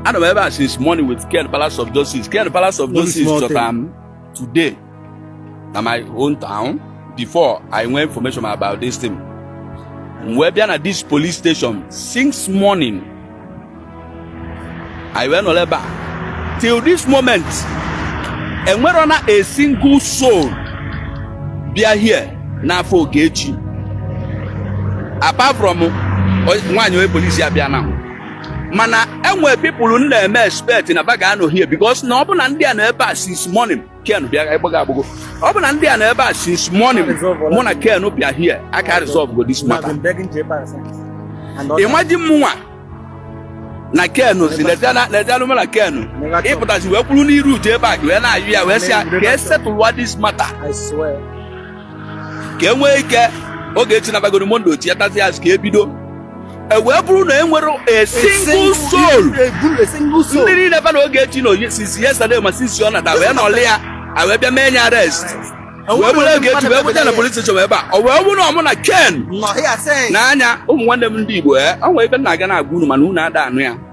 anọ m ebe a since morning with ken palace of justice ken palace of justice chọtara m today na my home town before i nwee information about this thing m wee bịa na this police station since morning i wee nọrọ ebe a till this moment enwerọ na a single soul bịa here now for ogechi apart from o- nwaanyị onye police a bịa now mana enwe people m na-eme expect na ba ga-anọ here because na ọ bụ na ndị a nọ ebe a since morning ken bịa ịgbaga agbụgo ọ bụ na ndị a nọ ebe a since morning mụ na ken bịa here a ka resolve go this matter imagine mụnwa na ken zi lezianụ mụ na ken ịpụtazi wee kwụrụ n'iru uju ebe a wee na-ayọ ya wee sị ya ka e settle wa this matter ka e nwee ike ogechi nabagoro monday ọ chịghatazịa azụ ka e bido ọ wee bụrụ na enwerọ a single soul ndị niile fa na ogechi nọ since yesterday ma since ọ nata wee nọlị ya e wee bịa mee nya arrest wee buru ogechi wee buje na police station ebe a ọ wee bụrụ na ọ mụ na ken nọ nya ụmụ nwanne m ndị igbo e o nwere ife m na-aga na-agwa unu mana unu ada anụ ya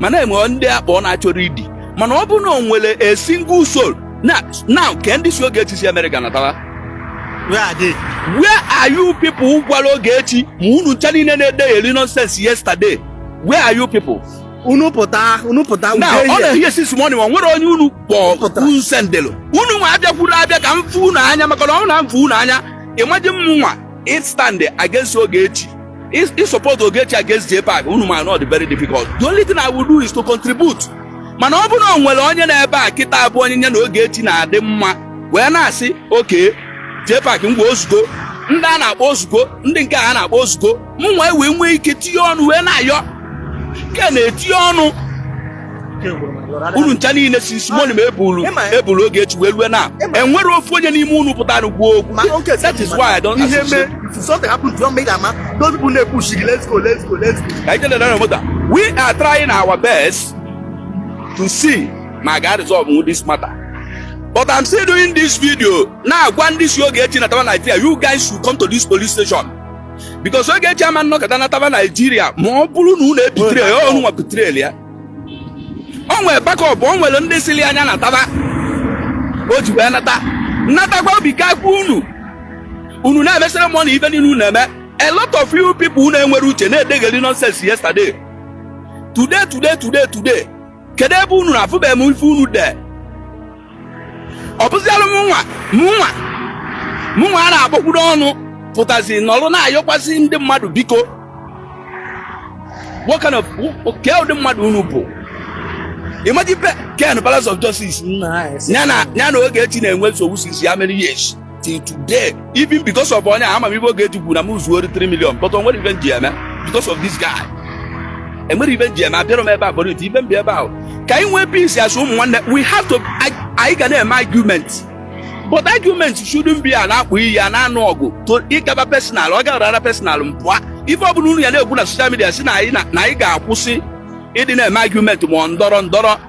mana enwe ndị akpọ na-achọrọ idi mana ọ bụrụ na o nwere a single soul na now kee ndị sị Ogechi si America natawa Where are they? where are you people gwara Ogechi ma unu ncha niile na-edegheri nonsense yesterday where are you people Unu pụta, unu pụta. na a nọ here since morning ma nwere onye unu kpọ Pụtara. m sendelu unu nwa abịakwuru abịa ka m fụ unu anya maka na ọ na m fụ unu anya imagine mụnwa ịstand against Ogechi ịsupport Ogechi against JPAC unu ma na ọ dị very difficult. The only thing I will do is to contribute. Mana ọ bụrụ na o nwere onye nọ ebe a kịta bụ onye ya na Ogechi na-adị mma wee na-asị okay JPAC ngwa o zugo ndị a na-akpọ o zugo ndị nke a na-akpọ o zugo mụnwa wee nwee ike tinye ọnụ wee na-ayọ ken na-etinye ọnụ unu ncha niile si isi mọnụ ma ebulu ebulu oge echi wee rue na enwere ofu onye n'ime unu pụtara kwuo okwu that is why I don't associate something happened to make ama those people dey push you let's go let's go let's go ka ije lere mota we are trying our best to see ma ga resolve this matter but I'm still doing this video na-agwa ndị si oge echi na tawa Nigeria you guys should come to this police station because ogechi ama nọkata nataba nigeria ma ọ bụrụ na unu ebetray ya unu nwa betray ya o nwere backup o nwere ndị sịlị nya nataba o ji wee nata natakwa obi kakwa unu unu na-emesịrị mọ na ife niile unu na-eme a lot of you people unu enwere uche na-edegheri nonsense yesterday today today today today kedu ebe unu nọ afụbeghị m ifu unu there ọ bụzialụ mụnwa mụnwa mụnwa a na-agbakwuru ọnụ pụtazi nọrọ na-ayọkwasị ndị mmadụ biko what kind of kee ụdị mmadụ unu bụ imagine ken palace of justice ya na ogechi na-enwe nsogbu since how many years till today even because of onye ama m ife Ogechi kwuru na m zuo 3 million but onwere ife m ji eme because of this guy enwere ife m ji eme abịara m ebe a bụrụ ite ife m bịa ebe a bụ ka anyị nwee peace as ụmụ nwanne we have to anyị ga na-eme argument but argument shouldn't be a na-akpọ iyi a na-anụ ọgụ to ịgaba personal ọ gaba personal m pụọ ife ọbụla unu ya na-ekwu na social media si na anyị na anyị ga-akwụsị ịdị na-eme argument ma ọ ndọrọ ndọrọ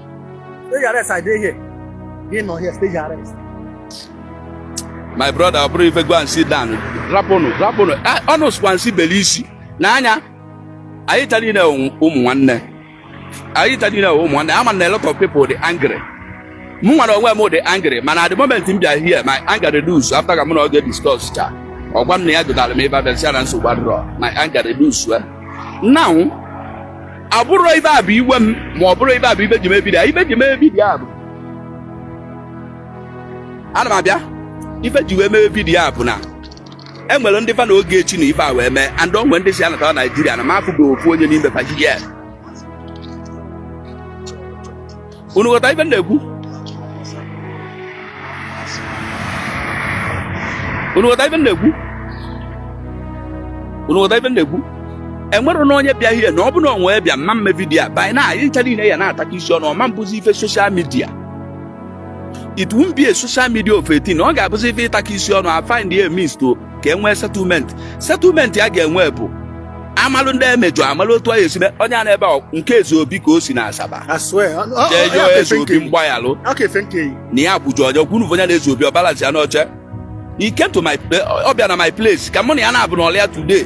Stage arrest, I dey here. Dey not here, stage arrest. My brother, ọ bụrụ ife go and sit down. Rapụnụ, rapụnụ. Ọnụ ah, sịkwa nsị beli isi. Na anyị, anyị ncha niile ụmụ nwanne. Anyị ncha niile ụmụ nwanne. Ama na a lot of people dey angry. Mụ nwa onwe m dey angry, mana at the moment m bịa here, my anger reduce after ka mụ na ọga discuss cha. ọ gwa m na ya dụtara m ebe a bịa sị ya na nsogbu adịrọ my anger reduce now ọ bụrọ ife a bụ iwe m ma ọ bụrọ ife a bụ ife ji mee vidiyo a ife ji mee vidiyo a bụ ana m abịa ife ji wee mee vidiyo a bụ na e nwere ndị fa na Ogechi nọ ife a wee mee and o nwe ndị si anatawa naijiria na m afụgo ofu onye n'ime fa ji ya unu ghọta ife na-ekwu unu ghọta ife na-ekwu unu ghọta ife na-ekwu enwere na onye bịa ihe na ọ bụ na onwe bịa mma eme vidiyo a by now anyị ncha niile ya na-atakọ isi ọnụ ọ ma-abụzi ife social media it won't be a social media of a thing ọ ga-abụzi ife ịtakọ isi ọnụ a find a means to ka e nwee settlement settlement a ga-enwe bụ amalụ ndị emejọ amalụ otu anyị esi mee onye a nọ ebe a nke Ezeobi ka o si na asaba eh Ezeobi mgbaghalụ na ya kwụjọ ọjọ kwunu onye na Ezeobi ọ balansia n'oche he came to my ọ bịa na my place ka mụ na ya na-abụ nọlịa today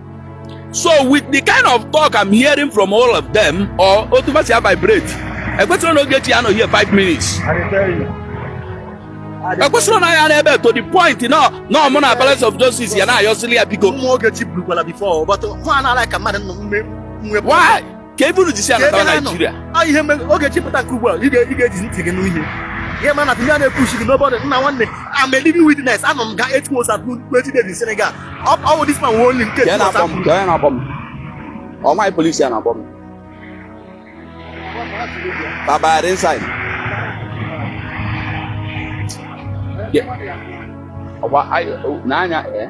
so with the kind of talk i'm hearing from all of them or otu fa si vibrate ekwesịrị na Ogechi anọ here five minutes ekwesịrị na ya nọ ebe a to the point na na mụ na palace of justice ya na-ayọsịrị ya biko Ụmụ Ogechi burukwala before, but nwa anaghị ka mmadụ nọ mme- nwe- why ka ebe unu jisi anata Naijiria ọ ihe mere Ogechi pụta nke ugbu a ị ga-eji ntị gị nụ ihe mana ihe a na-epushi gị n'obodo nna nwanne I'm a living witness anọ m eight months and twenty days in Senegal ọ wụ this man wee only nke ọ nwaanyị polisi ya na-akpọ m baba inside ọ gba n'anya eh?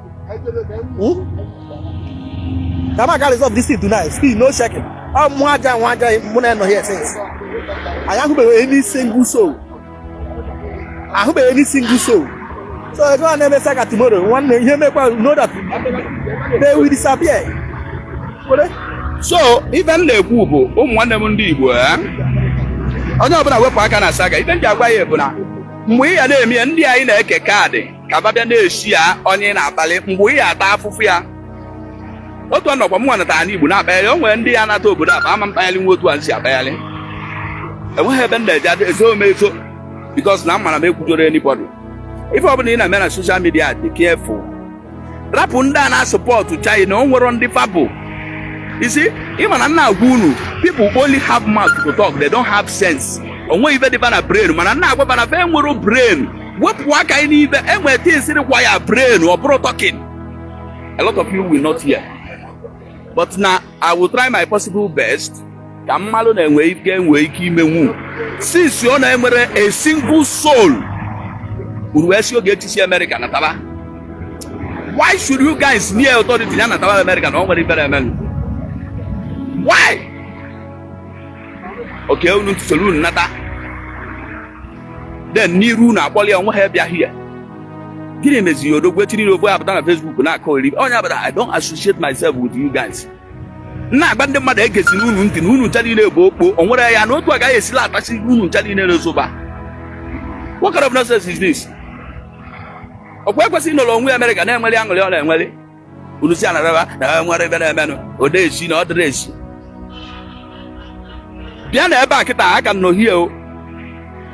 na m ga resolve this thing tonight still no checking ọ mụ aja nwa aja mụ na nọ here since anyị ahụbeghị any single soul ahụbeghị any single soul so ị ga na-eme saga tomorrow nwanne ihe mekwa know that they will disappear so ife m na-ekwu bụ ụmụ nwanne m ndị Igbo eh? onye ọbụla wepụ aka na saga ife m ji agwa ya bụ na mgbe ị ya na-eme ya ndị anyị na-eke kaadị ka ba bịa na-esi ya onye ị na-atali mgbe ị ya-ata afụfụ ya otu ọnọkwa m nwanatara n'Igbo na-akpagharị o nwere ndị ya nata obodo a bụ ama mkpagharị nwa otu a si akpagharị enweghị ebe m na-eje adị ezo m ezo because na m ma na m ekwujọrọ anybody ife ọbụla ị na-eme na social media dị careful rapụ ndị a na-asupport gị na o nwero ndị fa bu isi ị ma na m na-agwa unu people only have mouth to talk they don't have sense onweghị ife dị ba na brain mana m na-agwa ba na fa enwero brain wepụ aka anyị n'ibe enwere things require brain ọ bụrọ talking a lot of you will not hear but na i will try my possible best ka m malụ na-enwe ike enwe ike imenwu since ọ na-enwere a single soul unu wee sị Ogechi si America nataba why should you guys near authority ya nataba America na ọ nwere ibere emenụ why oke unu ntụsoro unu nata then n'iru unu akpọli onwe ha bịa here gịnị meziri odogwu echi niile ofu apụta na Facebook na-akọgheri onye abụla I don't associate myself with you guys na-agwa ndị mmadụ egezina unu ntị na unu ncha niile bụ okpo o nwere ya na otu agaghị esila atachi unu ncha niile n'ezoba what kind of nonsense is this ọkwa ekwesịghị nọrọ onwe ya America na-enweli aṅụrị ọ na-enweli unu si anaraba na ha nwere ebe na-emenụ ọ dị easy na ọ dịrọ easy bịa na ebe a kịta a ka nọ here o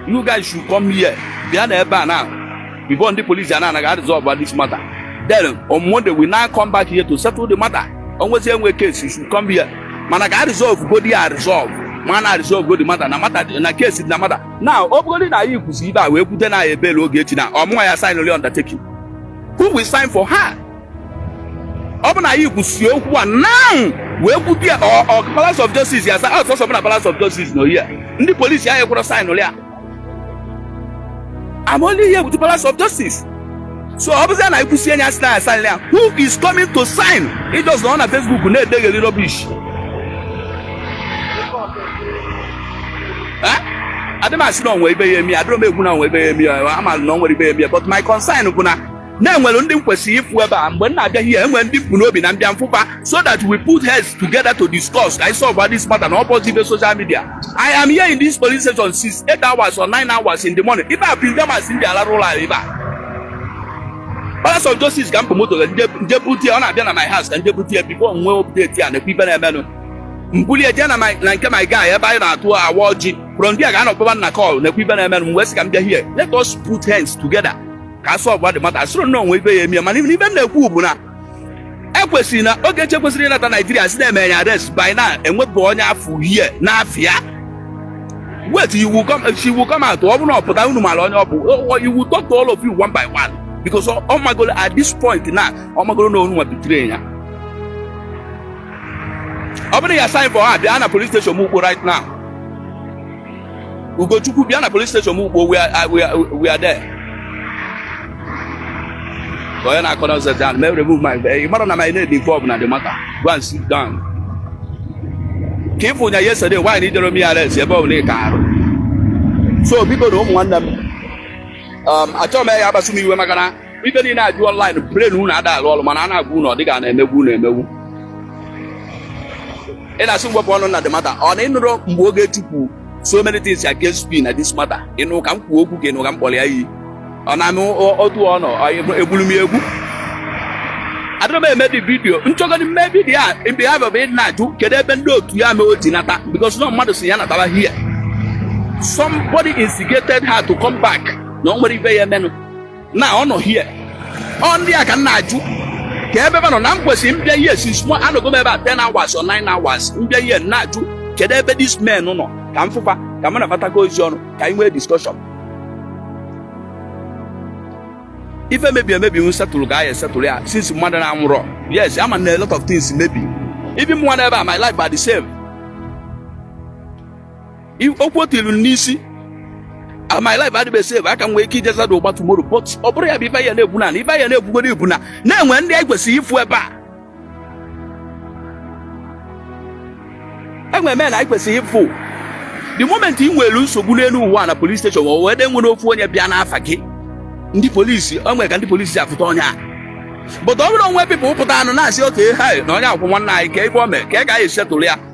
you guys should come here bịa na ebe a na before ndị polisi a na-aresolve this matter then on monday we now come back here to settle the matter onwezi enwe case you should come here mana ka a resolve go there a resolve ma na resolve go the matter na matter na case na matter now ọ bụgodị na anyị kwusie ibe a wee kwute na ya bail Ogechi na ọ mụnwa ya sign only undertaking who will sign for her ọ bụ na anyị kwusie okwu a now wee kwute ya ọ ọ palace of justice yes ọ sọsọ mụ na palace of justice nọ here ndị polisi anyị kwụrụ sign ya I'm only here with the palace of justice so ọ bụzi na anyị kwusie anya sị na ya sign ya who is coming to sign ị just nọ na Facebook na-edegheri rubbish adị m asị na onwe ibe ya-eme ya adịrọ m ekwu na onwe ibe ya-eme ya ama m na o nwero ibe ya-eme ya but my concern bụ na e nwere ndị m kwesịrị ịfụ ebe a mgbe m na-abịa here enwere ndị m bu n'obi na m bịa m fụ fa so that we put heads together to discuss ka anyị solve this matter na ọ bụrọzi ibe social media I am here in this police station since 8 hours or 9 hours in the morning ife a bụ them as ndị alarụ ụlọ anyị ebe a Palace of Justice ka m bu moto m je bute ọ na-abịa na my house ka m je bute ya before m wee update ya na-ekwu ife na-emenụ m kulie jee na my- na nke my guy ebe anyị na-atụ awa ọjị from there ka a nọ kpọba m na call na-ekwu ife na-eme m wee sị ka m bịa here let us put hands together ka a sọlva the matter asịrị na o nwe ife ya emie mana ife m na-ekwu bụ na ekwesịrị na Ogechi kwesịrị ịnata naijiria si na-eme ya arrest by now enwebụ onye afụ here n'afịa wet you will come she will come out ọ bụrụ na ọ pụta unu mara onye ọ bụ O- o- you will talk to all of you one by one because ọ ọ magolo at this point now ọ magolo na unu nwa betray ya ọ bụrụ na ị sign for her bịa na police station n'Ukpo right now ugochukwu bịa na police station n'Ukpo we are- we are- we are there Ka onye na-akọ na ọzọ down mee remove my ị mara na my name dị involved na the matter go and sit down ka ịfụ nya yesterday why na ịdịrọ eme ya arrest ebe ọ bụla ị ka arụ so bikonu ụmụ nwanne m um, achọghị m ya akpasu m iwe maka na ife niile a dụ online brain unu ada alụ ọrụ mana a na-agwa unu ọ dị ka a na-emegbu unu emegbu ị na-asị m wepụ ọnụ na the matter ọ na ịnụrụ mgbe Ogechi kwu so many things against me na this matter ịnụ ka m kwuo okwu ka ịnụ ka m kpọrọ ya iyi ọ na-amị otu ọ nọ egburu m egbu adịrọ m eme dis vidiyo m chọgodi ime vidiyo a mgbe ha bịara ịdị na-ajụ kedu ebe ndị otu ya mee o ji nata because na mmadụ si ya natara here somebody instigated her to come back na o nwere ife ya emenụ na ọ nọ here ọ ndị a ka m na-ajụ kee ebe fa nọ na m kwesịrị m bịa here since mo anọgo m ebe a 10 hours or 9 hours m bịa here m na-ajụ kedu ebe these men nọ ka m fụ fa ka m na fa takọọ isi ọnụ ka anyị nwee discussion ife mebi emebi we settle ka anyị settle ya since mmadụ na anwụrọ yes ama m na a lot of things mebi even mụwa nọ ebe a my life are the same I- okwu o tiri m n'isi Ah, my life adịbe safe aka m nwee ike ije zada ụgba tomorrow but ọ bụrụ ya bụ ife ya na-ekwu na ife ya na-ekwugoro bụ na e nwe ndị anyị kwesịrị ịfụ ebe a e nwe men anyị kwesịrị ịfụ the moment ị nwere nsogbu n'elu ụwa na polis steshọn ma o wee dị nwere ofu onye bịa n'afa gị ndị polisi o nwere ka ndị polisi si afụta onye a but ọ bụrụ e nwe people pụtanụ na-asị okay ha na onye a kwụ nwanne anyị ka ebe o mee ka anyị ga-eji settle ya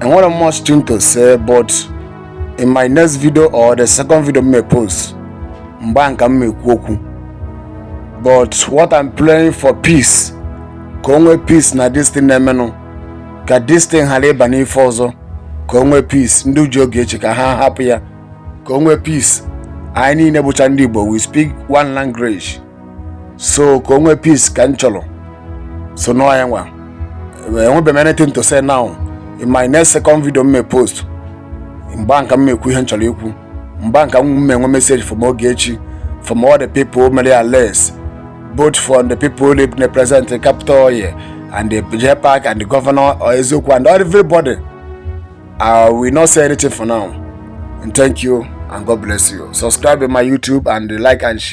enwere much thing to say but in my next video or the second video m me-post mgbe ahụ ka m ekwu okwu but what I'm praying for peace ka o nwee peace na this thing na-emenụ ka this thing ghara ịba n'ife ọzọ ka o nwee peace ndị ji Ogechi ka ha hapụ ya ka o nwee peace anyị niile bụcha ndị Igbo we speak one language so ka o nwee peace ka m chọrọ so nọ ya nwa enwebeghị m anything to say now in my next second video m may post mgbe ahụ ka m ekwu ihe m chọrọ ikwu mgbe ahụ ka m enwe message from Ogechi from all the people mere ya less both from the people who live in the present capital here and the J Park and the governor or Ezeokwu and everybody I will not say anything for now and thank you and God bless you subscribe to my YouTube and like and share